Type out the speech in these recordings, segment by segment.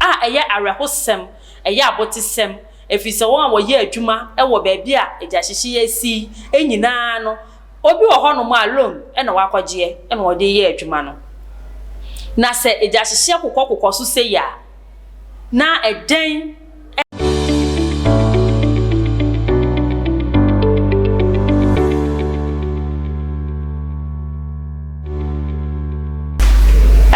a ɛyɛ awerɛhosɛm, ɛyɛ abotesɛm, efisɛ wɔn a wɔyɛ adwuma wɔ baabi a egyahyehye yi asi yi nyinaa no, obi wɔ hɔnom a loan na wakɔgyeɛ na ɔde reyɛ adwuma no. Na sɛ egyahyehyeɛ kokɔkokɔ so sei a, na ɛdɛn?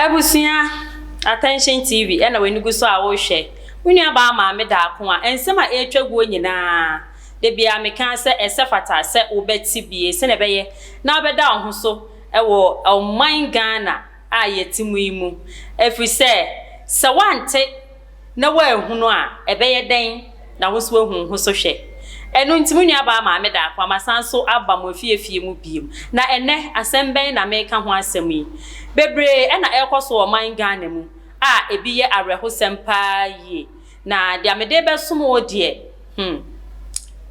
Abusua Attention TV ɛna w'ani gu so a wohwɛ. Wo nuabaa Maame Daako a nsɛm a ɛretwa guo nyinaa da biara meka sɛ ɛsɛ fata sɛ wobɛte bie sɛnea ɛbɛyɛ na wobɛda wo ho so wɔ ɔman Ghana a yɛte mu yi mu ɛfiri sɛ sɛ woante na woanhu no a, ɛbɛyɛ dɛn na wo nso woahu wo ho so hwɛ? Ɛno nti, mo nuabaa Maame Darko Ama san so aba mo afie afie mu bio. Na ɛnnɛ, asɛm bɛn na mereka ho asɛm yi? Bebree na ɛrekɔ so wɔ ɔman Ghana mu a ebi yɛ awerɛhosɛm paa yie, na deɛ mede rebɛsom wo deɛ, Hmm.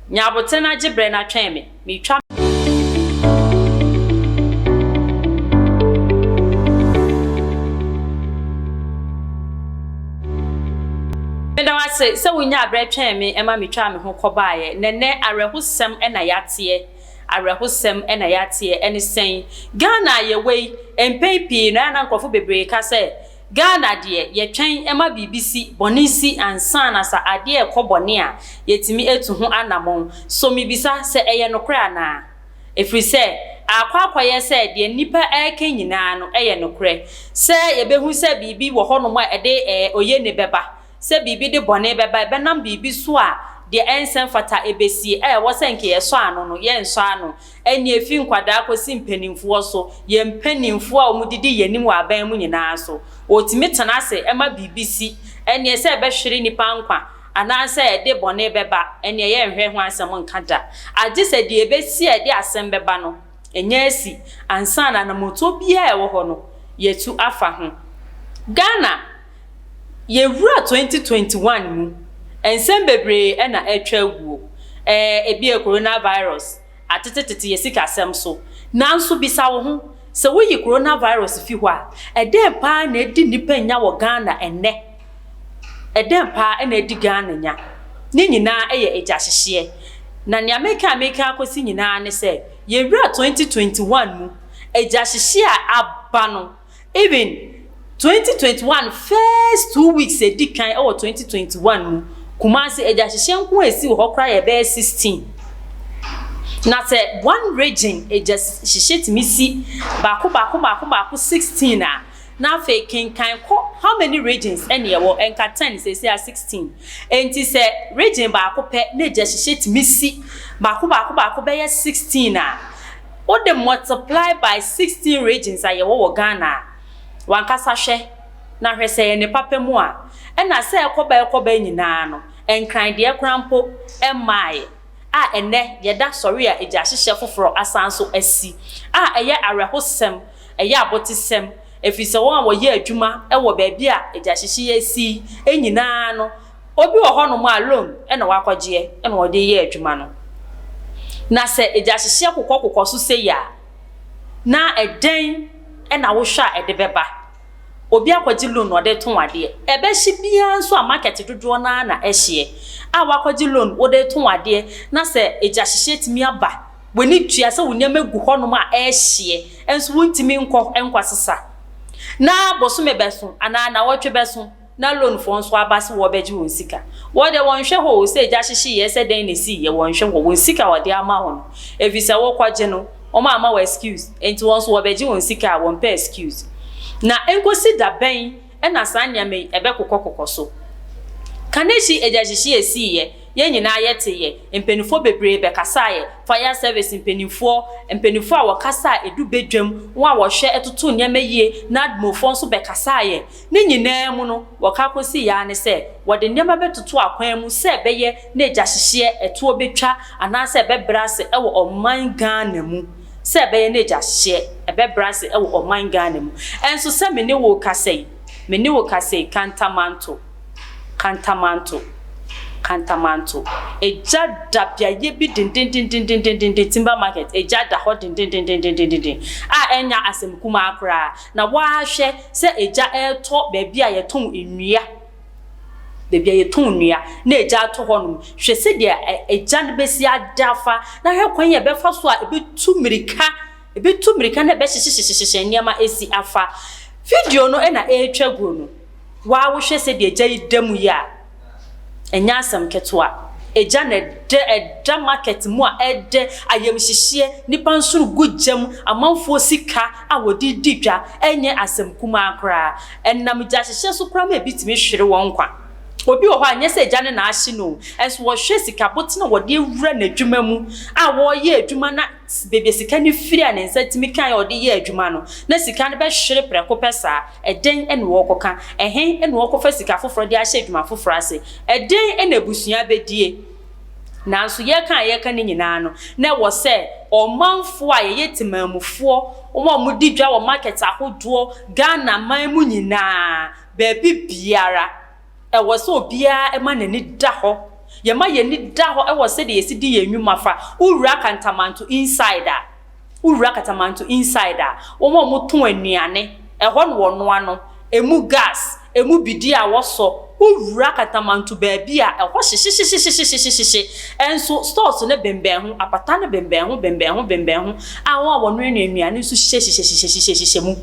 Nya aboten na gye brɛ na twɛn me. Metwa. Meda wo ase sɛ wonyaa brɛ twɛn me ma metwaa me ho kɔbaeɛ. Na ɛnnɛ awerɛhosɛm na yɛateɛ. Awerɛhosɛm na yɛateɛ. Ɛne sɛn? Ghana a yɛwɔ yi, mpɛn pii no, ɛyɛ a na nkurɔfo bebree ka sɛ Ghana deɛ yɛtwɛn ma biribi si, bɔne si ansa na sa adeɛ rekɔ bɔne a, yɛtumi atu ho anamɔn. So mebisa, sɛ ɛyɛ nokorɛ anaa? Ɛfiri sɛ, aakɔ akɔyɛ sɛ deɛ nnipa reka nyinaa no yɛ nokorɛ, sɛ yɛbɛhu sɛ biribi wɔ hɔnom a ɛde ɛɛ oyene bɛba, Sɛ biribi de bɔne bɛba, ɛbɛnam biribi so a deɛ ɛnsɛ mfata ɛbɛsie, a ɛwɔ sɛ nka yɛsɔ ano no, yɛnsɔ ano. Ɛnneɛ ɛfiri nkwadaa kɔsi mpanimfoɔ so, yɛn mpanimfoɔ a wɔdidi yɛn anim wɔ aban mu nyinaa so. Wɔtumi tena ase ma biribi si. Ɛnneɛ sɛ ɛbɛhwere nnipa nkwa anaasɛ ɛde bɔne bɛba, ɛnneɛ yɛnhwɛ ho asɛm nka da. Agye sɛ deɛ ɛbɛsi a ɛde asɛm bɛba no, ɛnya asi ansa na anammɔntuo biara a ɛwɔ hɔ no, yɛatu afa ho. Ghana. Yɛwura 2021 mu, nsɛm bebree na atwa aguo. Ɛɛ, ebia coronavirus atetetete yɛn sikasɛm so. Nanso bisa wo ho, sɛ woyi coronavirus fi hɔ a, ɛdɛn paa na adi nnipa nya wɔ Ghana ɛnnɛ? Ɛdɛn paa na adi Ghana nya? Ne nyinaa yɛ agyahyehyeɛ. Na nea meka a meka akɔsi nyinaa ne sɛ, yɛwura 2021 mu, agyahyehyeɛ a aba no, Even twenty twenty one first two weeks a edi kan wɔ twenty twenty one mu, Kumasi agyahyehyɛ nko a esi wɔ hɔ koraa yɛ bɛyɛ sixteen. Na sɛ one region agyahyehyɛ tumi si baako baako baako baako sixteen a, na afei kenkan kɔ how many regions na ɛwɔ? Nka ten seesei a sixteen. Enti sɛ region baako pɛ na agyahyehyɛ tumi si baako baako baako bɛyɛ sixteen a, wode multiply by sixteen regions a yɛwɔ wɔ Ghana a, w'ankasa hwɛ na hwɛ sɛ ɛyɛ ne papa mu a, ɛna sɛ ɛkɔba ɛkɔba nyinaa no, Nkran deɛ koraa mpo mmaaɛ a ɛnnɛ yɛda sɔre a egyahyehyɛ foforɔ asan nso asi a ɛyɛ awerɛhosɛm, ɛyɛ abotesɛm, ɛfiri sɛ wɔn a wɔyɛ adwuma wɔ baabi a egyahyehyeɛ asi nyinaa no, Obi wɔ hɔnom a loan na wakɔgyeɛ na ɔde reyɛ adwuma no. Na sɛ egyahyehyɛ kokɔ kokɔ so sei a, na ɛdɛn na wohwɛ a ɛde bɛba? Obi akɔgye loan na ɔde retɔn adeɛ. Ɛbɛhye biara nso a market dodoɔ no ara na ɛhyeɛ. A wakɔgye loan wode retɔn adeɛ na sɛ egyahyehyɛ tumi aba, w'ani tua sɛ wo nneɛma gu hɔnom a ɛrehyeɛ nso wontumi nkɔ nkɔsesa. Na bosome bɛso anaa nnawɔtwe bɛso. Na loan foɔ nso aba se wɔbɛgye wɔn sika. Wɔ deɛ wɔnhwɛ hɔ oo, sɛ egya hyehyeeɛ, sɛ dɛn na esiiɛ, wɔnhwɛ hɔ. Wɔn sika a wɔde ama wo no, efisɛ wokɔgye no, wɔn amma wo excuse, enti wɔn nso wɔbɛgye wɔn sika a, wɔmpɛ excuse. Na enkosi da bɛn na saa nneɛma yi ɛbɛkokɔkokɔ so? Kanehyi egya hyehyeeɛ siiɛ, yɛn nyinaa yɛteeɛ, mpaninfoɔ bebree bɛkasaaɛ, fire service mpaninfoɔ, mpaninfoɔ a wɔkasa a edu badwam, wɔn a wɔhwɛ totoo nneɛma yie, NADMO foɔ nso bɛkasaaɛ, Ne nyinaa mu no, wɔka kosii ara ne sɛ wɔde nneɛma bɛtoto akwan mu sɛ ɛbɛyɛ na agyahyehyɛɛ ɛtoɔ bɛtwa anaasɛ ɛbɛbrɛ ase wɔ ɔman Ghana mu, sɛ ɛbɛyɛ na agyahyehyɛɛ ɛbɛbrɛ ase wɔ ɔman Ghana mu. Ɛnso sɛ me ne wo rekasa yi, me ne wo rekasa yi, Kantamanto, Kantamanto, Kantamanto, egya da beaeɛ bi dendendendendenden, Timber Market, egya da hɔ dendendendendenden a ɛnyɛ asɛm kumaa koraa. Na woahwɛ sɛ egya retɔ baabi a yɛtɔn nnua, baabi a yɛtɔn nnua na egya ato hɔnom. Hwɛ sɛdeɛ egya no bɛsi ada afa, na hwɛ kwan a ɛbɛfa so a ɛbɛtu mmirika, ɛbɛtu mmirika na ɛbɛhyehyehyehyehye nneɛma asi afa. Video no na ɛretwa guo no, wo ara wohwɛ sɛdeɛ egya yi da mu yɛ a. Ɛnyɛ asɛm ketewa. Egya na ɛdɛ, ɛda market mu a ɛdɛ, ayamhyehyeɛ, nnipa nsono gu gya mu, amanfoɔ sika a wɔde redi dwa, ɛnyɛ asɛm kumaa koraa. Ɛnam gyahyehyɛ so koraa ma ebi tumi hwere wɔn nkwa. Obi wɔ hɔ a, ɛnyɛ sɛ egya no na ahye no o, ɛnso wɔhwɛ sika botene a wɔde awura n'adwuma mu a wɔreyɛ adwuma na, Baabi a sika no firi a ne nsa tumi kae a ɔde yɛɛ adwuma no, na sika no bɛhwere prɛko pɛ saa. Ɛdɛn na wɔrekɔka? Ɛhe na wɔrekɔfa sika foforɔ de ahyɛ adwuma foforɔ ase? Ɛdɛn na abusua bɛdie? Nanso yɛreka a yɛreka no nyinaa no, na ɛwɔ sɛ ɔmanfoɔ a yɛyɛ temanmufoɔ, wɔn a wɔdi dwa wɔ market ahodoɔ, Ghana man mu nyinaa, baabi biara, Ɛwɔ sɛ obiara ma n'ani da hɔ. Yɛma yɛn ani da hɔ wɔ sɛdeɛ yɛsi di yɛn nnwuma fa. Wo wura Kantamanto inside a, wo wura Kantamanto inside a, wɔn a wɔtɔn anuane, ɛhɔ na wɔnoa no, ɛmu gas, ɛmu bidie a wɔsɔ, wo wura Kantamanto baabi a, ɛhɔ hyehyehyehyehyehyehye. Nso stores no bembɛn ho, apata no bembɛn ho bembɛn ho bembɛn ho a wɔn a wɔnoanoa nnuane nso hyehyehyehyehyehyehyehyɛ mu.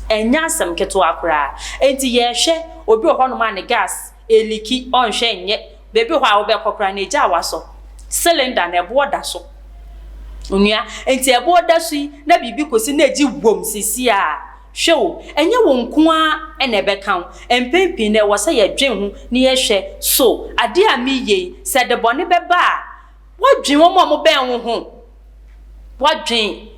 Ɛnyɛ asɛm ketewa koraa. Enti yɛrehwɛ. Obi wɔ hɔnom a ne gas ɛliki, ɔnhwɛ nyɛ. Baabi wɔ hɔ a wobɛkɔ koraa no egya a wasɔ, cylinder no ɛboɔ da so. Onua, enti ɛboɔ da so yi na biribi kɔsi na ɛgye wom seesei a, hwɛ o, ɛnyɛ wo nko ara na ɛbɛka wo. Mpɛn pii no ɛwɔ sɛ yɛdwen ho na yɛhwɛ, So adeɛ a mereyɛ yi, sɛ ɛde bɔne bɛba a, Woadwen wɔn a wɔbɛn wo ho? Woadwen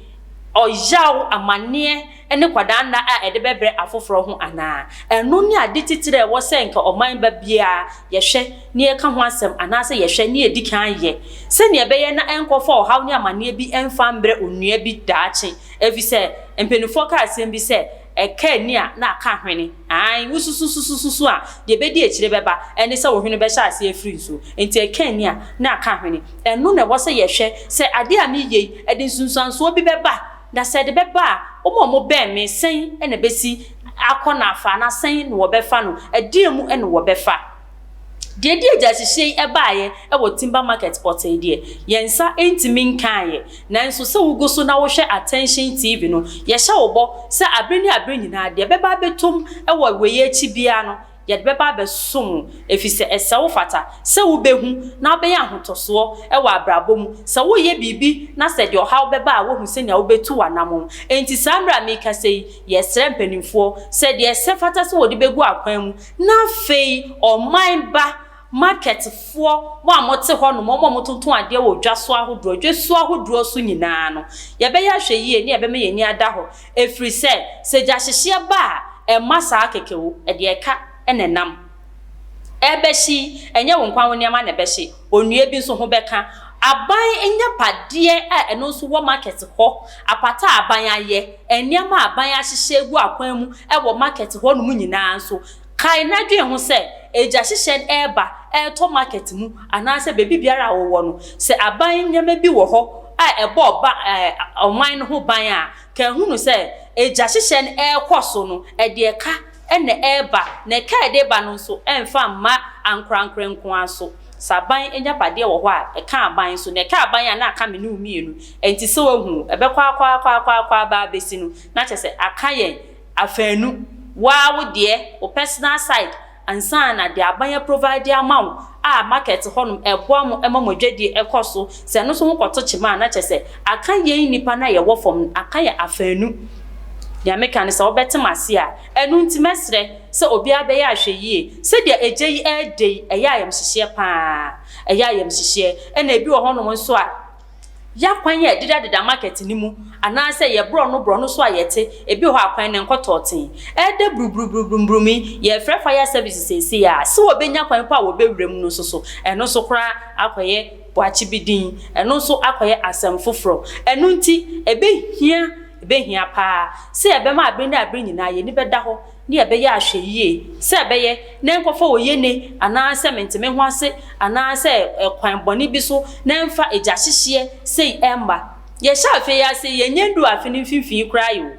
ɔyaw, amanneɛ, ne kwadaanna a ɛde bɛbrɛ afoforo ho anaa? Ɛno ne ade titire a ɛwɔ sɛ anka ɔman ba biara yɛhwɛ na yɛka ho asɛm anaasɛ yɛhwɛ na yedi kan yɛ sɛnea ɛbɛyɛ na ɛnkɔfa ɔhaw ne amanneɛ bi mfa mmrɛ onua bi daakye. Efisɛ mpanyimfo kaa asɛm bi sɛ, Ɛka ani a na aka ahwene. Aane, wosususususu a, deɛ ɛbɛdi akyire bɛba ne sɛ wo hwene bɛhyɛ aseɛ afiri nsuo. Enti ɛka ani a, na aka hwene. Ɛno na ɛwɔ sɛ yɛhwɛ sɛ adeɛ a mereyɛ yi, ɛde nsunsuansoɔ bi bɛba? Na sɛ ɛde bɛba a, wɔn a wɔbɛn me, sɛn na ɛbɛsi akɔ na afa, anaa sɛn na wɔbɛfa no? Ɛdeɛn mu na wɔbɛfa? Deɛ ɛde agyahyehyɛ yi baeɛ wɔ Timber Market pɔtee deɛ, yɛn nsa ntumi nkaeɛ. Nanso sɛ wogu so na wohwɛ Attention TV no, yɛhyɛ wo bɔ sɛ aberɛ ne aberɛ nyinaa, deɛ ɛbɛba abɛtom wɔ wei akyi biara no, yɛde bɛba abɛsom wo, ɛfiri sɛ ɛsɛ wo fata sɛ wobɛhu na wobɛnya ahotɔsoɔ wɔ abrabɔ mu. Sɛ woreyɛ biribi na sɛ deɛ ɔhaw bɛba a, woahu sɛnea wobɛtu w'anammɔn. Enti saa mmerɛ a merekasa yi, yɛsrɛ mpanimfoɔ sɛ deɛ ɛsɛ fata sɛ wɔde bɛgu akwan mu Na afei ɔman ba, marketfoɔ, mo a mote hɔnom, wɔn a wɔtontɔn adeɛ wɔ dwa so ahodoɔ, dwasuo ahodoɔ so nyinaa no, yɛbɛyɛ ahwɛyie ne yɛbɛma yɛn ani ada hɔ, ɛfiri sɛ, sɛ gyahyehyeɛ ba a, ɛmma saa kɛkɛ o, ɛdeɛ ɛka na ɛnam. Ɛrebɛhye yi, ɛnyɛ wo nko ara wo nneɛma na ɛbɛhye, Onua bi nso ho bɛka. Aban agyapadeɛ a ɛno nso wɔ market hɔ, apata a aban ayɛ, nneɛma a aban ahyehyɛ agu akwan mu wɔ market hɔnom nyinaa nso, kae na dwen ho sɛ, Agya hyehyɛ reba retɔ market mu anaasɛ baabi biara a wowɔ no, sɛ aban nneɛma bi wɔ hɔ a ɛbɔ ɔman no ho ban a, kae hunu sɛ Agya hyehyɛ no rekɔ so no, ɛde ɛka. na ɛreba, na ɛka a ɛde reba no nso mfa mma ankorankorɛ nko ara so. Sɛ aban agyapadeɛ wɔ hɔ a, ɛka aban nso, na ɛka aban a na aka me ne wo mmienu. Ɛnti sɛ woahu o, ɛbɛkɔ ara kɔ ara kɔ ara kɔ ara kɔ ara baa abɛsi no, na kyerɛ sɛ aka yɛn afaanu, wo ara wo deɛ, wo personal side, ansa na deɛ aban aprovide ama wo, a market hɔ nom ɛboa mo ma mo adwadie ɛkɔ so sɛ ɛno nso ho kɔto kyema a na kyerɛ sɛ aka yɛn nnipa no a yɛwɔ fam no aka yɛn afaanu deɛ meka ne sɛ wobɛte m'ase a ɛno nti mɛsrɛ sɛ obiara bɛyɛ ahwɛyie sɛdeɛ ɛgya yi ɛɛdɛ yi ɛyɛ ayamhyehyeɛ paa ɛyɛ ayamhyehyeɛ ɛna ɛbi wɔ hɔ nom nso a Yɛ akwan a ɛdedadeda market no mu anaasɛ yɛ borɔno borɔno so a yɛte, ebi wɔ hɔ a akwan no nkɔ tɔɔtee. Ɛɛdɛ brubrubrubrumburum yi, yɛrefrɛ fire service seesei a, se wɔbɛnya kwan mpo a wɔbɛwura mu no nso so, ɛno nso koraa akɔyɛ boakye bi din, ɛno nso akɔyɛ asɛm foforɔ. Ɛno nti ɛbɛhia, ɛbɛhia paa sɛ yɛbɛma abere ne abere nyinaa yɛn ani bɛda hɔ Nea ɛbɛyɛ ahwɛyiye sɛ ɛbɛyɛ na ɛnkɔfa oyenni anaasɛ mentemehoase anaasɛ kwan bɔne bi so na ɛmfa agyahyehyeɛ sei mma. Yɛhyɛ afe yi ase, yɛnyɛ nnuu afe no mfimfini koraa ɛ o.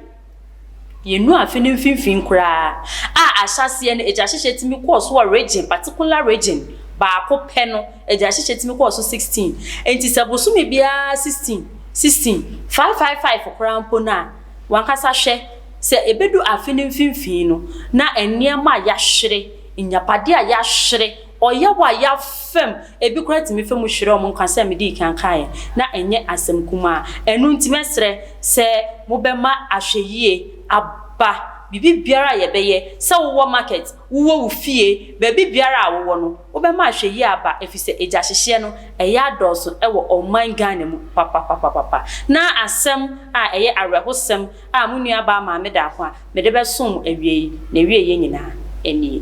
Yɛnnuu afe no mfimfini koraa a ahyɛaseɛ no agyahyehyeɛ tumi kɔɔ so wɔ region, particular region, baako pɛ no, agyahyehyeɛ tumi kɔɔ so 16. Enti sɛ bosome biara 16, 16, five, five, five koraa mpo no a, W'ankasa hwɛ, sɛ ebedu afe no mfinimfini no, na nneɛma a yɛahwere, nnyapade a yɛahwere, ɔyaw a yɛafam, ebi koraa tumi fa mu hwere wɔn nkwa sɛnea midii kan kae, na ɛnyɛ asɛm kumaa. Ɛno nti, mɛsrɛ sɛ mobɛma ahwɛyiye aba biribiara a yɛbɛyɛ, sɛ wowɔ market, Wowɔ wo fie, baabi biara a wowɔ no, wobɛma ahwɛyie aba efisɛ agyahyehyɛ no, ɛyɛ adɔɔso wɔ ɔman Ghana mu papapapapapa. Na asɛm a ɛyɛ awerɛhosɛm a mo nuabaa Maame Daakwa mede bɛsom mo awia yi, n'awieeɛ nyinaa nie.